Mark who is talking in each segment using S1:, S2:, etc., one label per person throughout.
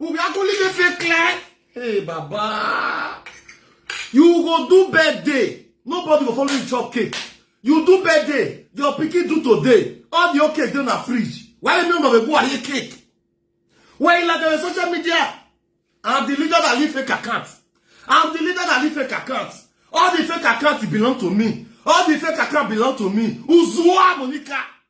S1: Obi Akolike fake clear. Hey, Baba. You go do birthday. Nobody go follow you chop cake. You do birthday. Your pikin do today. All your cake dey na fridge. Why you no go go aye cake? Why you like the social media? I'm the leader that leave fake account. I'm the leader that leave fake account. All the fake accounts belong to me. All the fake accounts belong to me. Uzua Monica.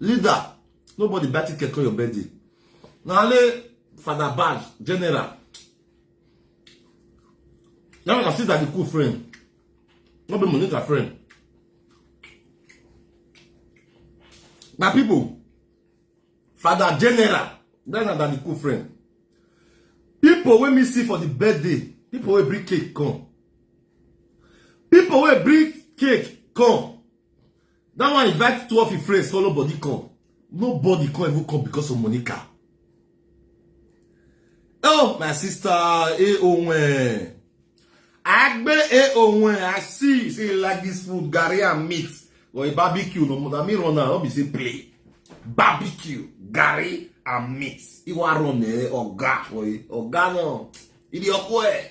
S1: leader nobody buy ticket for your birthday na only father bad general now na sister be cool friend no be monica friend na people father general that na that be cool friend people wey me see for the birthday people wey bring cake come People will bring cake come. That one invite two of your friends, follow body come. Nobody come even come because of Monica. Oh, my sister, eh, oh, when. Agbe, eh, oh, when. I see, see, like this food, Gary and meat. Or a barbecue, no more than me run now, be say play. Barbecue, Gary and meat. Iwa run, eh, or ga, or ga, no. Idi okwe.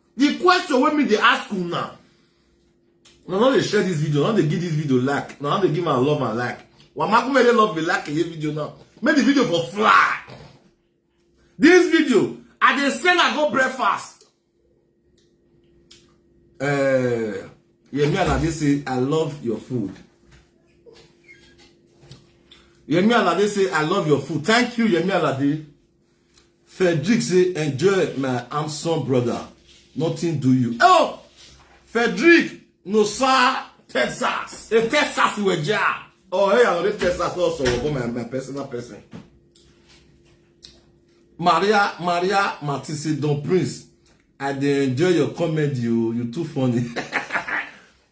S1: The question wey me dey ask una, una no dey share this video, una no dey give this video like, una no dey give am love and like. Wamakume dey love me like a video now. Make the video for fly. This video, I dey send I go breakfast. Uh, Yemi Alade say, I love your food. Yemi Alade say, I love your food. Thank you, Yemi Alade. Frederick say enjoy my handsome brother nothing do you. Oh! Frederick no sir Texas e Texas we ja. Oh hey I love Texas also go my my personal person. Maria Maria Matisse Don Prince I dey enjoy your comedy o you too funny.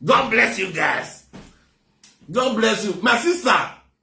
S1: God bless you guys. God bless you. My sister,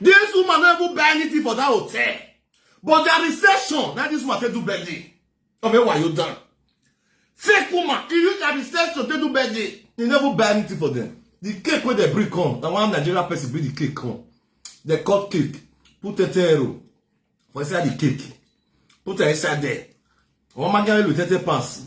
S1: This woman no even buy anything for that hotel. But their reception, now this woman take do birthday. Ọmọ ẹwà yóò dán. Fake woman, he use their reception take do birthday. He never buy anything for them. The cake where they bring come, na one Nigerian person bring the cake come. They cut cake, put a tero for inside the cake, put it inside there. One man get with 30 pounds.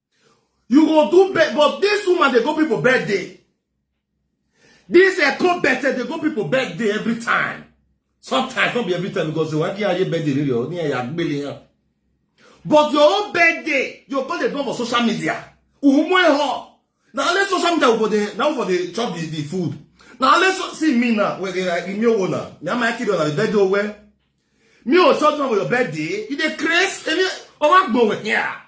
S1: you go do bed but this woman dey go people birthday this eko birthday dey go people birthday every time sometimes not be every time because wọn kí ayé birthday rírì ọ ní ẹyà gbélé yẹn but your own birthday your birthday don for social media umu ehọ na only social media for the na for the chop the the food na only so see me na wey dey like mi owo na mi ama kiri na the birthday owe mi o chop na for your birthday you dey craze emi ọmọ agbọwẹ here.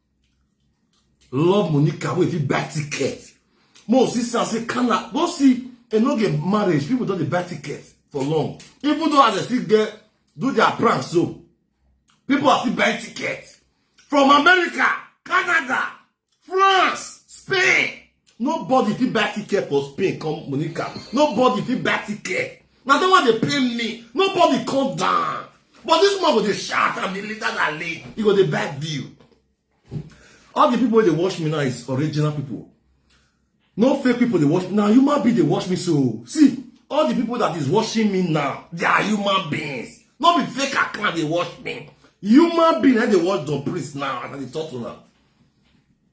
S1: love monica wey fit buy ticket mo see say say kana go see e no get marriage people don dey buy ticket for long even though as dem still get do their prank so people are still buying ticket from america canada france spain nobody fit buy ticket for spain come monica nobody fit buy ticket na dem wan dey pay me nobody come down but this man go dey shout and dey leader na lead he go dey buy view all the people wey dey watch me now is original people no fake people dey watch me na human being dey watch me so see all the people that is watching me now they are human beings no be fake account dey watch me human being na dey watch don prince now as i dey talk to una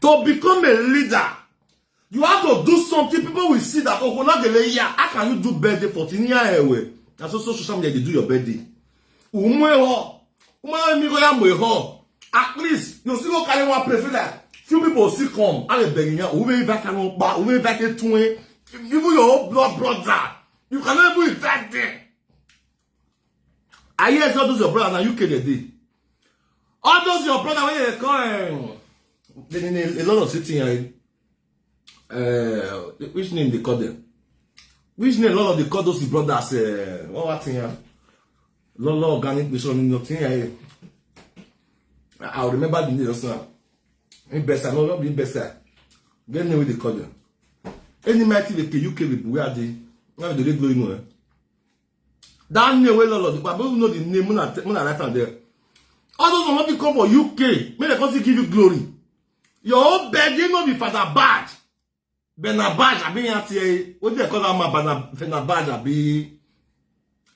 S1: To become a leader, you have to do something people will see that oh na gele ya how can you do birthday for tin ya ewe na so so social media dey do your birthday umu eho umu eho mi go ya mo eho at least you still go carry one plate so that few people still come and dey beg yan umu eho back and pa umu eho back tun even your own blood brother you cannot even invite them I hear say all those your brother na UK dey dey. All those your brother wey dey call um, the, the, the, the London city yẹn. Uh, which name they call them? Which name London dey call those his brothers? Uh, what what thing yẹn? London organic mission ni nothing yẹn. I will remember the name just now. Investor, no, not the investor. Get name wey dey call them. Any mighty wey UK people where are they? Now they dey go anywhere. that name wey lolo the papa know the name muna muna write am there all those one fit come for uk make dem come still give you glory your own begging no be father bad benabaj abi yan ti e o dey call am ma benabaj abi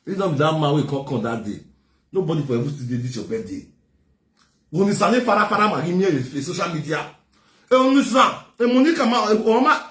S1: this no be that man wey come come that day nobody for ever still dey this your birthday woni sale farafara magi mi e social media e only sa e monica ma e oma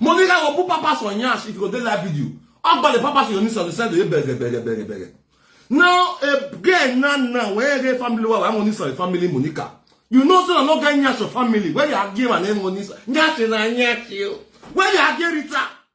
S1: Monica go put papas for nyash if you go dey live video. Agba the papas you need to send to you beg beg beg beg beg. Now again now now where the family wa wa money sorry family Monica. You know say I no get nyash for family. Where you are give and name money. Nyash na nyash you. Where you are give Rita.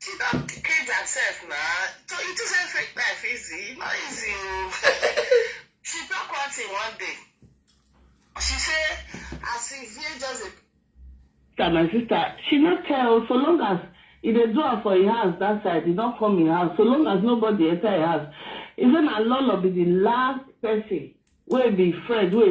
S1: She don cage herself na. So you think say fake life easy? No easy o. she talk one thing one day. She say as she hear just a sister my sister she no care o so long as e dey do am for im house that side e don come im house so long as nobody enter im house e say na lolo be the last person wey be friend wey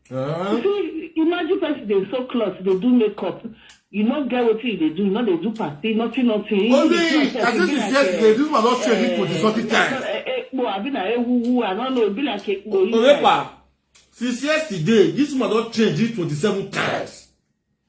S1: Uh-huh. You see, imagine person dey sew cloth, dey do makeup. You no get wetin you dey do, you no dey do party, nothing, nothing. Only, You see yourself, as you if be you like, say, eh, this man don train people the sorting time. eh, eh, ekpo, abi na ewuwu, I no know, e be like ekpo inside. Orepa, since yesterday, this man don change it 27 times.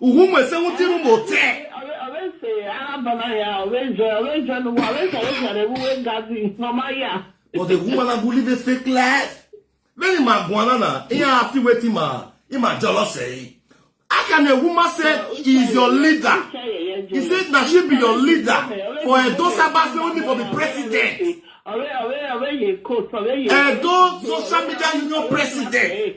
S1: Uhu mwe se wuti nu mo te. But the woman na go live a fake life. Many ma guana na, iya happy wetin ma, i ma jealous say. How can a woman say he is your leader? He said that she be your leader for a Edo Sabah say only for the president. Edo social media union president.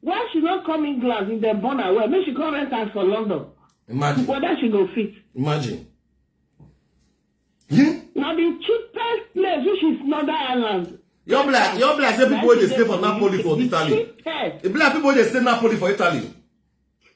S1: Why she no come England if dem born her well? Make she come rent house for London. Imagine. Whether she go fit. Imagine. Hmm? Na the cheapest place which is Northern Ireland. Your black, your black say people wey dey stay for Napoli for Italy. E be like people wey dey stay Napoli for Italy.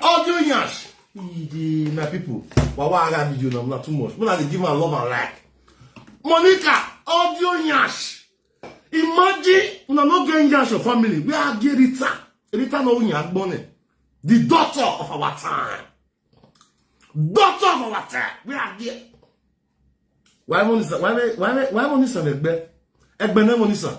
S1: audio yansh the my people wawa ara mi you know na too much una dey give am love and like monica audio yansh imagine una no get yansh your family where i get rita rita no oyin agbone the daughter of our time daughter of our time where i get why monisa why why why monisa egbe egbe na monisa.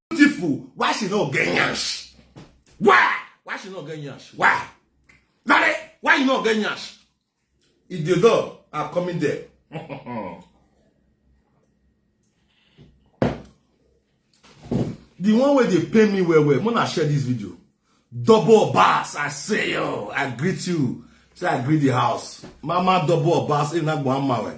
S1: beautiful why she no get yansh why why she no get yansh why nare why you no get yansh if the door are coming there the one wey dey pay me well well mona share this video double bass i say yo i greet you say i greet the house mama double bass enagbo amawe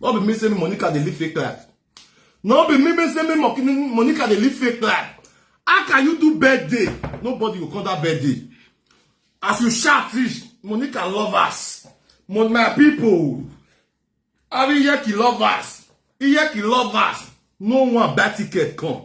S1: no be me say me monica dey live fake life no be me me say me Mo- me- monica dey live fake life how can you do birthday nobody go come that birthday as you shout fish monica lovers Mo- my people abi iyeki lovers iyeki lovers no one buy ticket come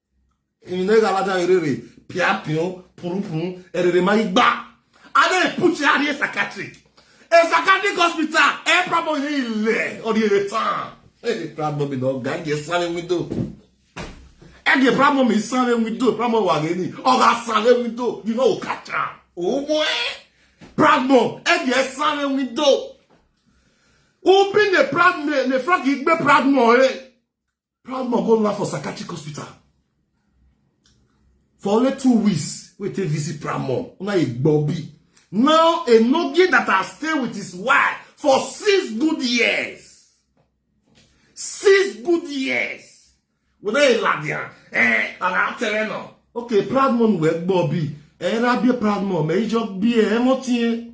S1: in ne gala da erere pia pion puru puru erere ma igba ade put ya ni psychiatric a psychiatric hospital e problem ni ile or the time e problem mi no ga ge sare window e ge problem mi sare window problem wa ge ni o ga sare window you know catch am o mo e problem e ge sare window open the problem the frog igbe problem e proud man go land for psychiatric hospital for only two weeks wey take visit proud man una e gbobi now a nogi that has stayed with his wife for six good years six good years whether e ladian eh ara tere na okay proud man wey gbobi eh rabie proud man me ijo bi eh mo tin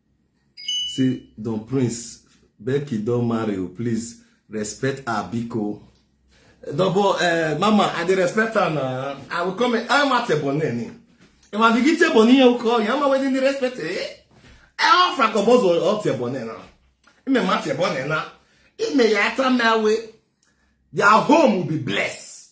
S1: See, Don Prince, Becky don marry you, please respect her biko. Double, uh, mama, I dey respect her na. I will come, I'm at a bonnet. If I begin to bonnet, you call, I'm waiting the respect, eh? I offer a boss or out your bonnet now. I'm a matter bonnet now. It may ata my way. Their home will be blessed.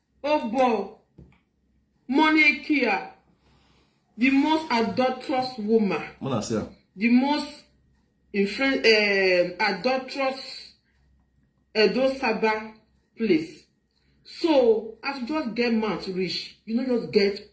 S1: Ogbor Monekia, the most adulterous woman. When I say am. The most infre- um, adulterous Edo Saba place. So, as you just get mouth reach, you no just get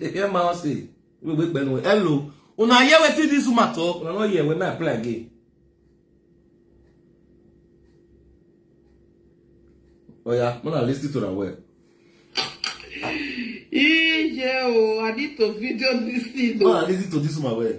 S1: ihe ma ọ si gbegbe kpenu elo una hear wetin dis woman talk una no hear when me apply again oya oh, muna lis ten to am well. Ije o, I need to video this thing. No, I lis ten to this woman well.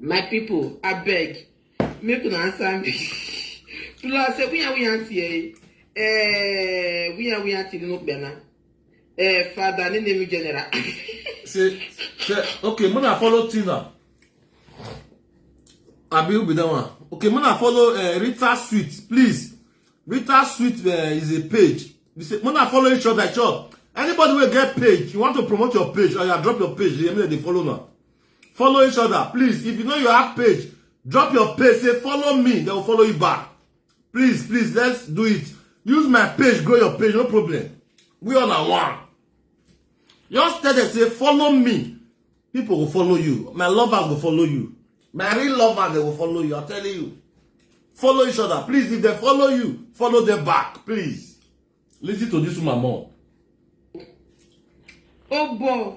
S1: my people I beg, make una answer me tula se wiya wiya nti eh eh wiya wiya nti no gbana eh father ne name general say say okay when i follow tina abi who be that one okay when i follow uh, rita sweet please rita sweet uh, is a page you say when i follow each other chop anybody wey get page you want to promote your page or you drop your page dey make dem dey follow now. follow each other please if you know you have page drop your page say follow me they will follow you back please please let's do it use my page grow your page no problem we all are one just tell them say follow me people will follow you my lovers will follow you my real lovers they will follow you i'm telling you follow each other please if they follow you follow them back please listen to this woman more. Oh boy.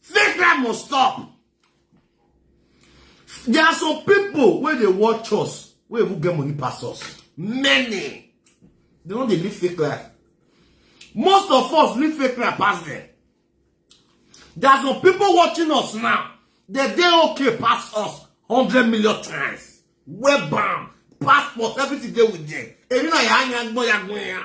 S1: fake life must stop there are some people wey dey watch us wey even get money pass us many they no dey live fake life most of us live fake life pass them there are some people watching us now they dey okay pass us hundred million times webam passport everything dey with them èmi náà yà á yan gbọ́n yan gbọ́n yan.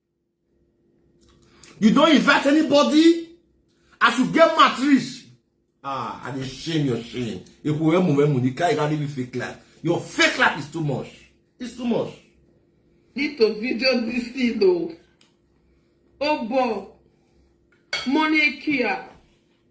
S1: you don't invite anybody as you get mad rich ah i dey shame your shame epo emu emu the guy carry you fake life your fake life is too much it's too much. need to video this thing o oh. obo oh, money kia.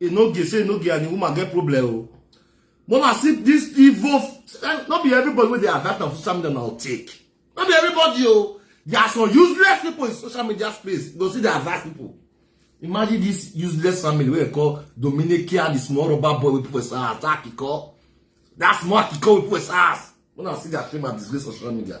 S1: enoge say enoge and the woman get problem o mona see this evil no be everybody wey dey adapt on social media na take no be everybody o there are some useless people in social media space go see the advice people imagine this useless family wey dem call dominican the small rubber boy wey people say ah that kiko that small kiko wey people say ah mona see their shame and disgrace on social media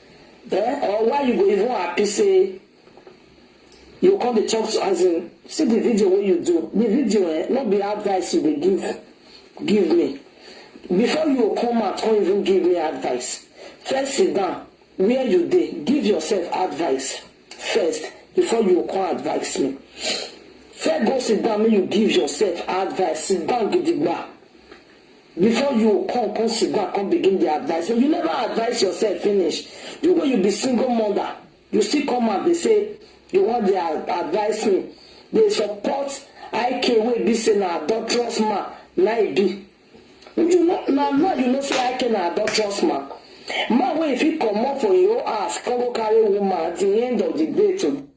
S1: Eh or why you go even happy say you come dey talk to as in see the video wey you do the video eh no be advice you dey give give me before you go come out come even give me advice first sit down where you dey give yourself advice first before you go come advise me first go sit down make you give yourself advice sit down gidigba Before you o come come sit down come begin dey advice me you never advice yourself finish you wey you be single mother you still come out dey say you wan dey advice me dey support IK wey be say na adulterous man na e be you know na now you know say IK na adulterous man man wey e fit comot for im own house come go carry woman at the end of the day to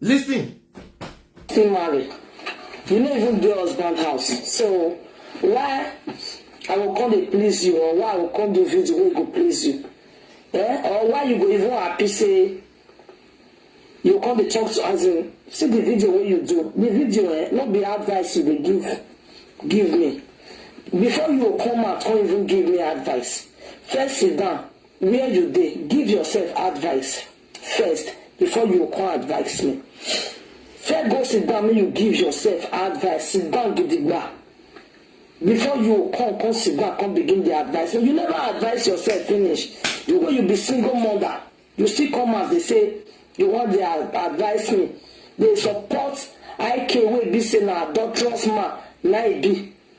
S1: Listen. Still married. You no even get husband house. So why I will come to please you or why I will come do video wey go please you? Eh? Or why you go even happy say you come to talk to as in see the video wey you do. The video eh, no be advice you dey give give me. Before you come out, come even give me advice. First sit down where you dey, give yourself advice. first before you go come advice me first go sit down make you give yourself advice sit down gidigba before you go come come sit down come begin dey advice me you never advice yourself finish you wey you be single mother you still come out dey say you wan dey advice me dey support ik wey be say na adulterous man na e be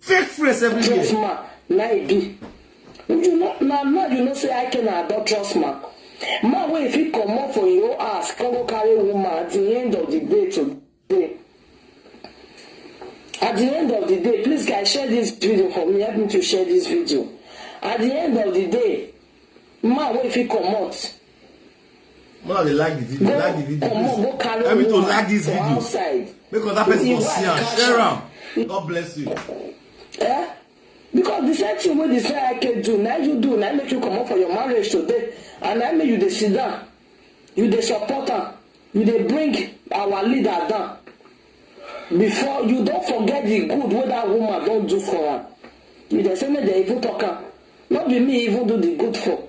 S1: fake friends everywhere. trust ma na e be you know na now you know say i can adult trust ma man wey fit comot for im own house come go carry woman at the end of the day today at the end of the day please guys share this video for me help me to share this video at the end of the day man wey fit comot Mona dey like the video, like the video. Omo, go carry Help me to like this video. Outside. Make other person go see am, share am. God bless you. Eh? Because the same thing wey the say I can do, now you do, now make you come up for your marriage today, and now make you dey sit down, you dey support am, you dey bring our leader down. Before you don't forget the good wey that woman don't do for am. You dey say make dem even talk am. No be me even do the good for.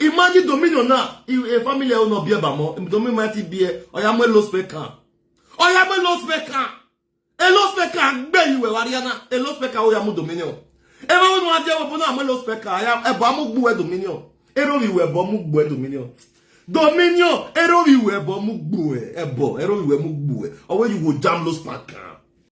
S1: imagine dominion na e family o no bia ba mo dominion ma ti bia oya mo lo spec kan oya mo lo spec kan e lo spec kan gbe iwe wariana e lo spec kan oya mo dominion e ma wonu aje wo na mo lo spec kan aya e ba mo gbu e dominion e ro wi we bo mo gbu e dominion dominion e ro wi we bo mo gbu e bo e ro wi we mo gbu e owe you go jam lo spec kan